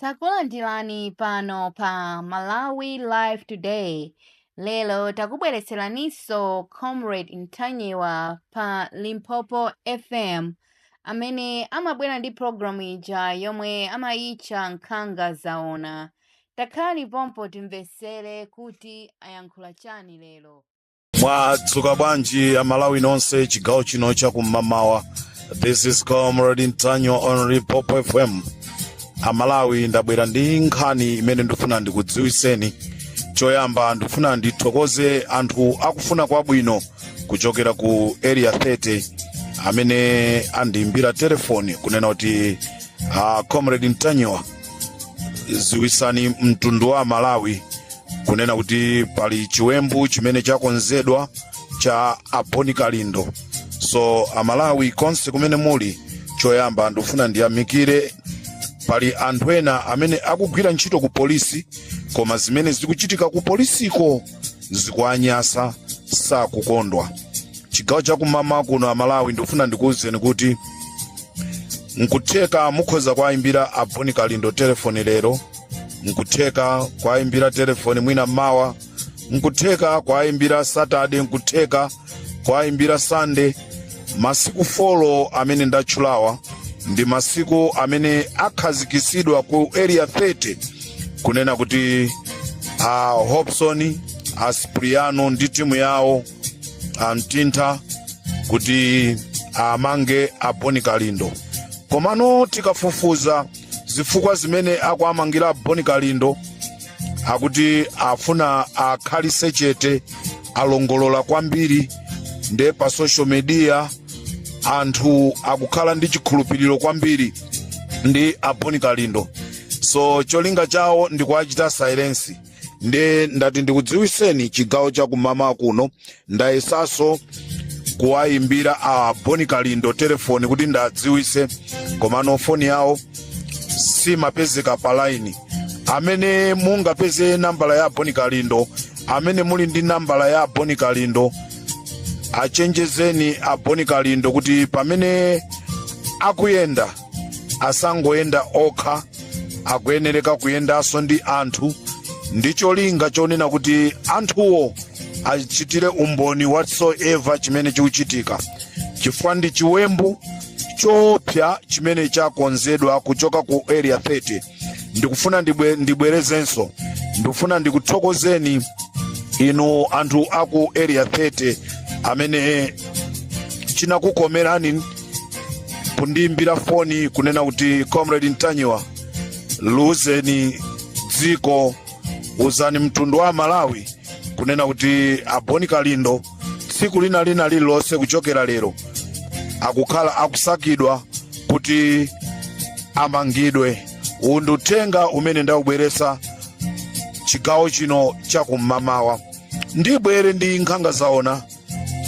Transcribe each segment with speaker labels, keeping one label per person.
Speaker 1: Takulandirani pano pa Malawi Live Today. Lero takubweretseraninso Comrade Ntanyiwa pa Limpopo FM amene amabwera ndi programu ija yomwe amayitcha Nkhanga Zaona. Takhalani pompo timvetsere kuti ayankhula chani lero.
Speaker 2: mwadzuka bwanji amalawi nonse chigawo chino chakum'mamawa this is comrade ntanyiwa on limpopo fm amalawi ndabwera ndi nkhani imene ndifuna ndikudziwiseni choyamba ndifuna ndithokoze anthu akufuna kwabwino kuchokera ku area 30 amene andiimbira telefoni kunena kuti uh, comrade ntanyiwa ziwisani mtundu wa amalawi kunena kuti pali chiwembu chimene chakonzedwa cha a boni kalindo so amalawi konse kumene muli choyamba ndikufuna ndiyamikire pali anthu ena amene akugwira ntchito ku polisi koma zimene zikuchitika ku polisiko zikuwanyasa sakukondwa chigawo chakum'mawa kuno amalawi ndikufuna ndikuwuzeni kuti nkutheka mukhoza kuwayimbira a boni kalindo telefoni lero nkutheka kuwayimbira telefoni mwina mawa nkutheka kuwayimbira saturday nkutheka kwaimbira sunday masiku folo amene ndatchulawa ndi masiku amene akhazikitsidwa ku area 30 kunena kuti a hobson a sipriano ndi timu yawo amtintha kuti awamange a boni kalindo komano tikafufuza zifukwa zimene akuamangira a boni kalindo akuti afuna akhalise chete alongolola kwambiri nde pa social media anthu akukhala ndi chikhulupiriro kwambiri ndi a boni kalindo so cholinga chawo ndikuwachita silence nde ndati ndikudziwiseni chigawo cha kum'mawa kuno ndayesaso kuwayimbira a boni kalindo telefoni kuti ndadziwise komano foni yawo simapezeka pa laini amene mungapeze nambala ya a boni kalindo amene muli ndi nambala ya boni kalindo achenjezeni a boni kalindo kuti pamene akuyenda asangoyenda okha akuyenereka kuyendanso ndi anthu ndi cholinga chonena kuti anthuwo achitire umboni whatsoever chimene chikuchitika chifukwa ndi chiwembu choopsa chimene chakonzedwa kuchoka ku area 30 ndikufuna ndibwe- ndibwerezenso ndikufuna ndikuthokozeni inu anthu aku area 30 amene chinakukomerani kundiimbira foni kunena kuti comrade ntanyiwa liuzeni dziko uzani mtundu wa malawi kunena kuti a bon kalindo tsiku lina lina lililonse kuchokera lero akukhala akusakidwa kuti amangidwe uwu ndi uthenga umene ndawubweretsa chigawo chino chakum'mawa ndibwere ndi nkhanga zaona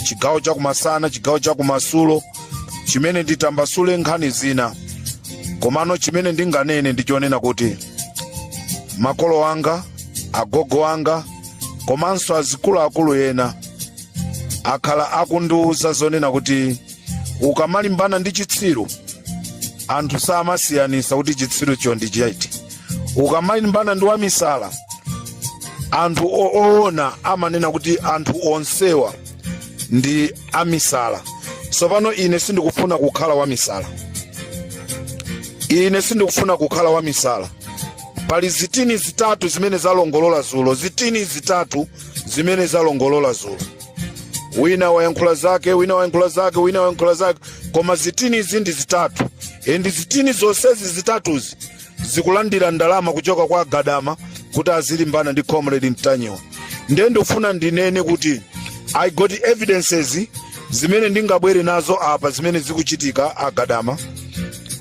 Speaker 2: chigawo chakumasana chigawo chakumadzulo chimene nditambasule nkhani zina komano chimene ndinganene ndichonena kuti makolo anga agogo anga komanso azikuluakulu ena akhala akundiwuza zonena kuti ukamalimbana ndi chitsiru anthu samasiyanisa kuti chitsirucho ndi chiti ukamalimbana ndi wamisala anthu oona amanena kuti anthu onsewa ndi amisala tsopano ine sindikufuna kukhala wamisala ine sindikufuna kukhala wamisala pali zitini zitatu zimene zalongolola zulo zitini zitatu zimene zalongolola zulo wina wayankhula zake wina wayankhula zake wina wayankhula zake koma zitini izi ndi zitatu endi zitini zonsezi zitatuzi zikulandira ndalama kuchoka kwa agadama kuti azilimbana ndi comrade ntanyiwa ndiye ndikufuna ndinene kuti i got evidences zimene ndingabwere nazo apa zimene zikuchitika agadama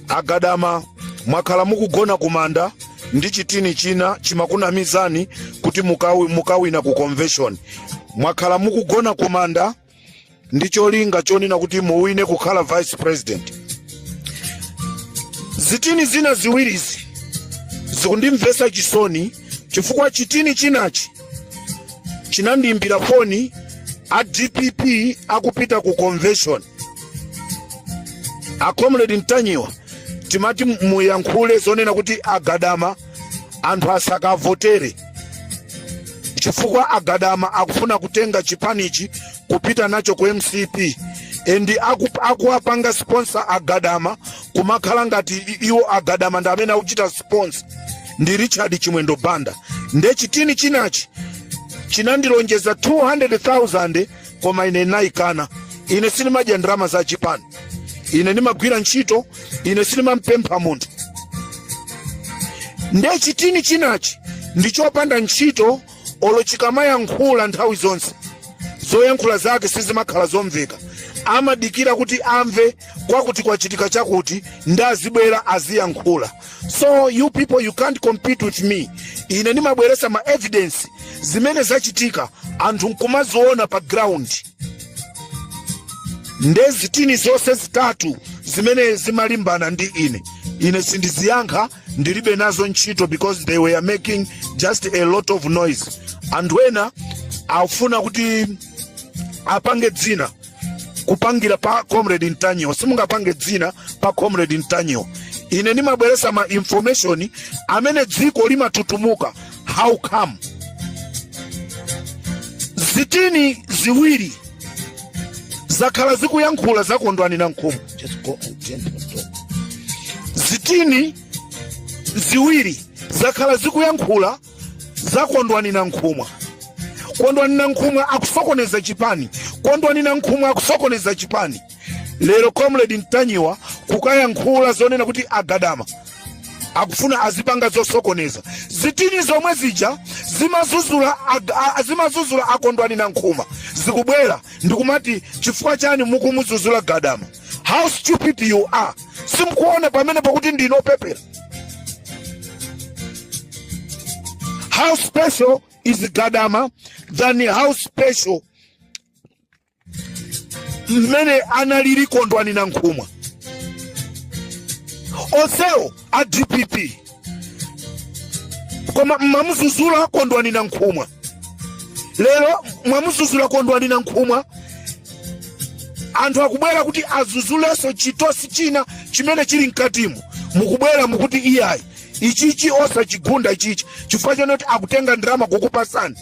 Speaker 2: agadama mwakhala mukugona kumanda ndi chitini china chimakunamizani kuti mukawina ku convention mwakhala mukugona kumanda ndi cholinga chonena kuti muwine kukhala vice president zitini zina ziwirizi zikundimvesa chisoni chifukwa chitini chinachi chinandiimbira foni a dpp akupita ku convention a comrade ntanyiwa timati muyankhule zonena kuti agadama anthu asakavotere chifukwa agadama akufuna kutenga chipanichi kupita nacho ku mcp endi akuwapanga sponsor agadama kumakhala ngati iwo agadama ndi amene akuchita sponsor ndi richard chimwendo banda nde chitini chinachi chinandilonjeza 200,000 koma ine ndinayikana ine sindimadya ndalama za chipani ine ndimagwira ntchito ine sindimampempha munthu nde chitini chinachi ndi chopanda ntchito olo chikamayankhula nthawi zonse zoyankhula zake sizimakhala zomveka amadikira kuti amve kwakuti kwachitika chakuti nde azibwera aziyankhula so you people you can't compete with me ine ndimabweresa ma evidence zimene zachitika anthu nkumaziona pa ground nde zitini zonse zitatu zimene zimalimbana ndi ine ine sindiziyankha ndilibe nazo ntchito because they were making just a lot of noise anthu ena afuna kuti apange dzina kupangira pa comrade ntanyiwa simungapange dzina pa comrade ntanyiwa ine ndimabweresa ma information amene dziko limatutumuka how come zitini ziwiri zakhala zikuyankhula zakondwani na nkhumu zitini ziwiri zakhala zikuyankhula za kondwani nankhumwa kondwani nankhumwa akusokoneza chipani kondwani nankhumwa akusokoneza chipani lero comrade ntanyiwa kukayankhula zonena kuti agadama akufuna adzipanga zosokoneza zitini zomwe zija zimazuzula ag- a- a- zimazuzula akondwani nankhumwa zikubwera ndikumati chifukwa chani mukumuzuzula gadama how stupid you are simkuona pamene pakuti ndinu opepera how special is gadama than how special mmene analili kondwani nankhumwa onsewo a dpp koma mmamuzuzula kondwani nankhumwa lero mwamuzuzula kondwani nankhumwa anthu akubwera kuti azuzulenso chitosi china chimene chili mkatimo mukubwera mukuti iyayi ichichi osachigunda ichichi chifukwa chonoti akutenga ndalama kukupasani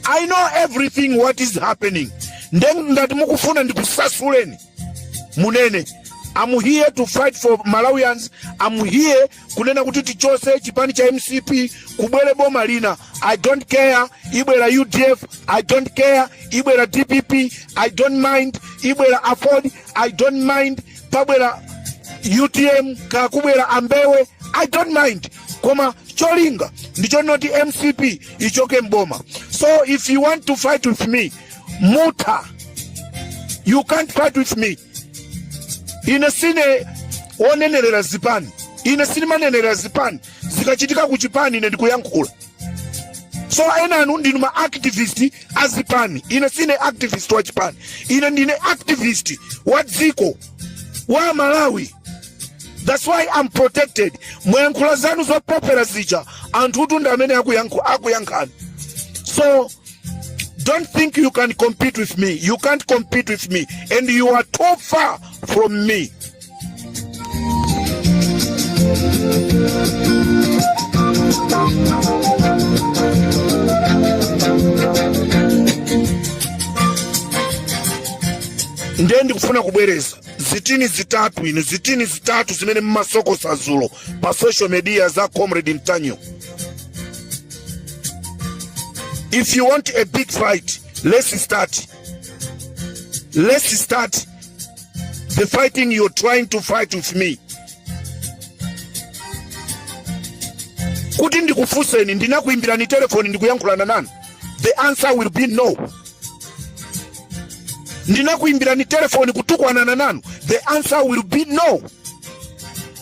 Speaker 2: i know everything what is happening nde ngati mukufuna ndikusasuleni munene I'm here to fight for Malawians. I'm here kunena kuti tichotse chipani cha MCP kubwere boma lina. I don't care ibwera UDF, I don't care ibwera DPP, I don't mind ibwera Aford, I don't mind pabwera UTM kaya kubwera a Mbewe, I don't mind. Koma cholinga ndi chonoti MCP ichoke mboma. So if you want to fight with me mutha you can't fight with me ine sine wonenerera zipani ine sindimanenerera zipani zikachitika ku chipani ine ndikuyankhula so enanu ndinu ma activist a zipani ine sine activist wa chipani ine ndine activist wa dziko wa malawi that's why i'm protected mwayankhula zanu zopepera zija anthu tu ndi amene akuyankhu- akuyankhani so Don't think you can compete with me. You can't compete with me. And you are too far from me. ndiye ndikufuna kubwereza zitini zitatu inu zitini zitatu zimene mmasokosa dzulo pa social media za comrade ntanyiwa if you want a big fight let's start let's start the fighting you're trying to fight with me kuti ndikufunseni ndinakuimbirani telefoni ndikuyankhulana nanu the answer will be no ndinakuimbirani telefoni kutukwanana nanu the answer will be no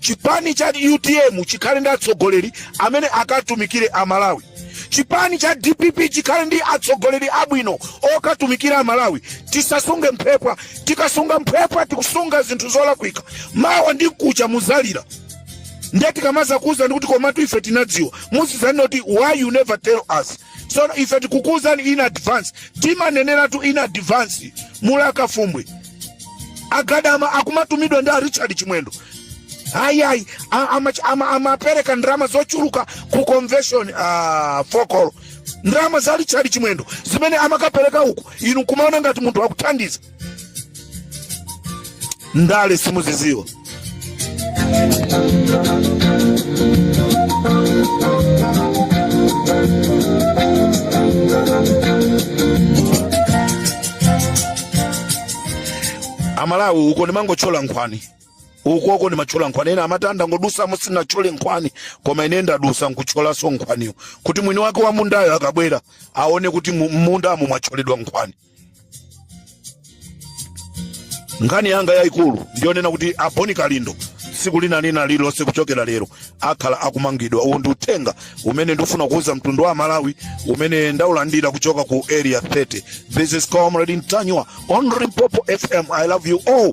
Speaker 2: chipani cha utm chikhale ndi atsogoleri amene akatumikire amalawi chipani cha dpp chikhale ndi atsogoleri abwino okatumikira amalawi tisasunge mphepwa tikasunga mphepwa tikusunga zinthu zolakwika mawa ndi mkucha muzalira ndiye tikamazakuuzani ndikuti komatu ife tinadziwa musazanene kuti why you never tell us so ife tikukuuzani in advance timaneneratu in advance mulaka fumbwe agadama akumatumidwa ndi a richard chimwendo ayi ayi amapereka ndalama zochuluka ku convention uh, fokolo ndalama za richard chimwendo zimene amakapereka uku inu kumaona ngati munthu akukuthandiza ndale simuziziwa amalawi uko ndimangotchola nkhwani ukoko ndimatchola nkhwani ena amati ndangodusamo sindinatchole nkhwani koma ine ndadusa nkutcholanso nkhwaniyo kuti mwini wake wa mundayo akabwera aone kuti mu- mundamo mwatcholedwa nkhwani nkhani yanga yayikulu ndiyonena kuti a boni kalindo tsiku lina lililonse kuchokera lero akhala akumangidwa uwu ndi uthenga umene ndifuna kuwuza mtundu wa malawi umene ndaulandira kuchoka ku area 30 this is comrade ntanyiwa on limpopo fm i love you all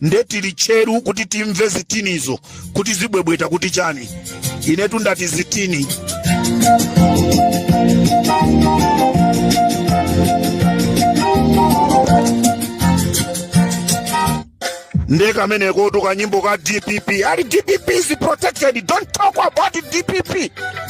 Speaker 2: nde tili tcheru kuti timve zitinizo kuti zibwebweta kuti chani inetu ndati zitini nde kameneko tikanyimbo ka dpp ali dpp is protected don't talk about dpp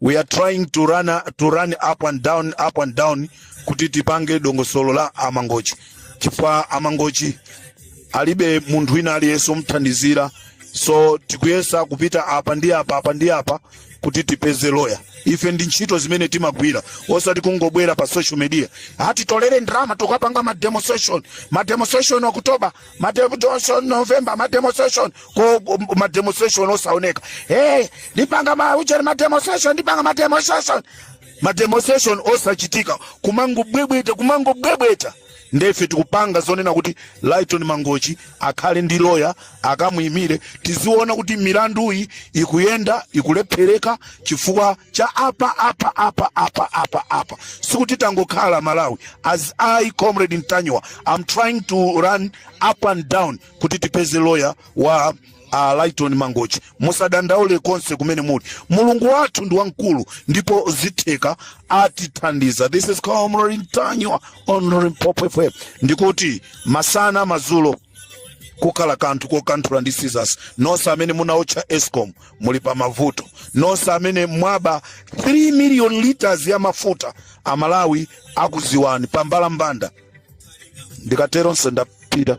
Speaker 2: we are trying to run up and down kuti tipange dongosolo la amangochi chifukwa amangochi alibe munthu wina aliyense omthandizira so tikuyesa kupita apa ndi apa apa ndi apa kuti tipeze loya ife ndi ntchito zimene timagwira osati kungobwera pa social media ati titolere ndalama tikapange ma demonstration ma demonstration okutoba mademonstration november mademonstration ko ko- mademonstration osaoneka hey ndipanga ma ujeni mademonstration ndipanga mademonstration mademonstration osachitika kumangobwebweta kumangobwebweta ndefe tikupanga zonena kuti lighton mangochi akhale ndi loya akamuyimire tiziona kuti milanduyi ikuyenda ikulephereka chifukwa cha apa apa apa sikuti tangokhala malawi as i comrade ntanyiwa am trying to run up and down kuti tipeze loya wa uh, lighton mangochi musadandaule konse kumene muli mulungu wathu ndi wamkulu ndipo zitheka atithandiza this is comrade ntanyiwa on limpopo fm ndikuti masana mazulo kukhala kanthu kokanthula ndi scissors nonse amene munaotcha escom muli pa mavuto nonse amene mwaba 3 million liters ya mafuta amalawi akuziwani pa mbalambanda ndikatero nse ndapita